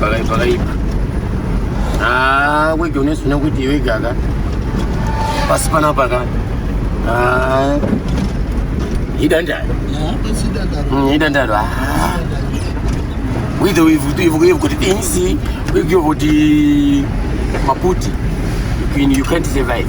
pakaipa wege unesuna kuti iwegaka pasi panapaka idandaro mm, idandaro ah. withe kuti things wigyo kuti maputi you can't survive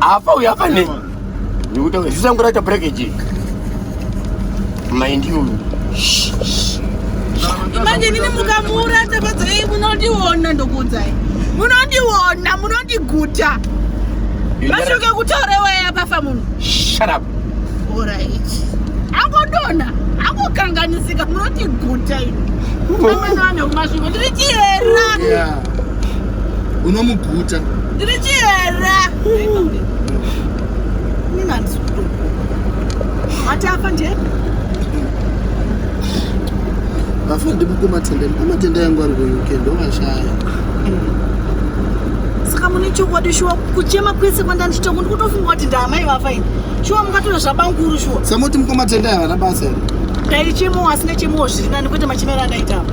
afa uyu afa ne zisanguraita brekeji mind you manje nini mukamuura tafadza ei munondiona ndokuudzai munondiona munondiguta mashoke kutaura iwaya pafa munhu shut up orit angodona angokanganisika munotiguta ino amwene vaneumasviko ndiri chihera unomuguta ndiri chihera ati afa ndiye afa ndimukumatenda mukumatenda yangu ari kuuk ndovashaya saka mune chokwadi shuwa kuchema kwese kwandanditoko ndikutofunga kuti ndaamai vafa ini shuwa mungatore zvabanguru shuwa samoti mukumatenda yavana basa here ndaichemowo asina chemowo zviri nani kwete machemero andaitapa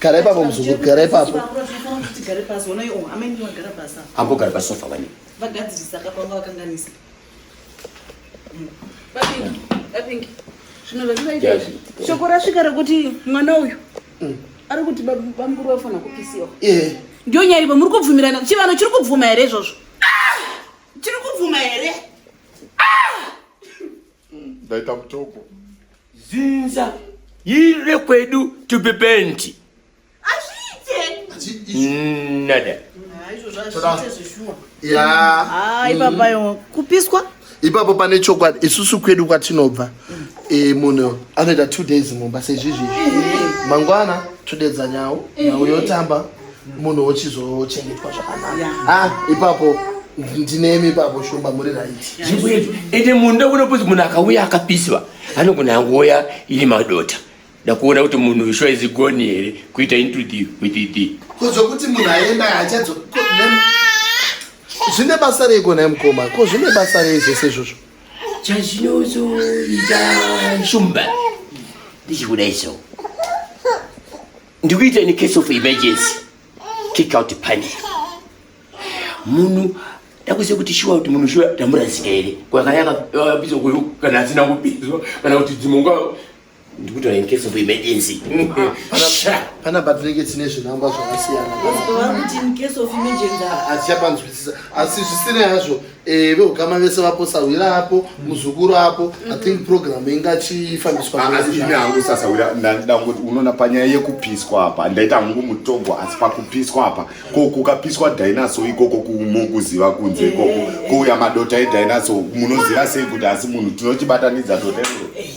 gara ipapo muzukuru gara ipapo ambogara pasofa vani vagadzirisa kapanga vakanganisa shoko rasvika rekuti mwana uyu mm. ari kuti bamukuru vafana kupisiwa ndio nyaya ivo muri kubvumirana chivano chiri kubvuma here izvozvo ah! chiri kubvuma here ah! ndaita mutoko zinza iri rekwedu tupe penti nada ipapayo kupiswa ipapo pane chokwadi isusu kwedu kwatinobva e, munhu anoita two days mumba sezvizvi mangwana todedza nyawo nyawo yotamba munhu wochizochengetwa zvakanaka ah, ipapo ndinemi ipapo shumba muri right ende munhu ndokuda kuti munhu akauya akapiswa anogona angoya iri madota ndakuona kuti munhu uyu sure izigoni here kuita into the with the kozvokuti munhu aenda hachadzo zvine basa rei kona mukoma ko zvine basa rei zvese izvozvo chazvinozoita shumba ndichikuda izvo ndikuita in case of emergency kick out panel munhu ndakuziva kuti shuwa kuti munhu shuwa tamurasika here kwakayakapisa kuyo kana asina kupiswa kana kuti dzimwe nguva ndikutora in case of emergency pana batireke dzine zvinangwa zvakasiyana azichapanzwisisa asi zvisinei hazvo Eh, veukama vese vapo sahwira apo mm. muzukuru apo i mm-hmm. think program ingachifambiswa ah, asi ini hangu sasahwira ndandida kuti unoona panyaya yekupiswa apa ndaita hangu mutogwa asi pakupiswa apa ko kukapiswa dinosaur ikoko kumokuziva kunze eh, ikoko eh, kuuya madota edinosaur munoziva sei kuti asi munhu tinochibatanidza dota iroro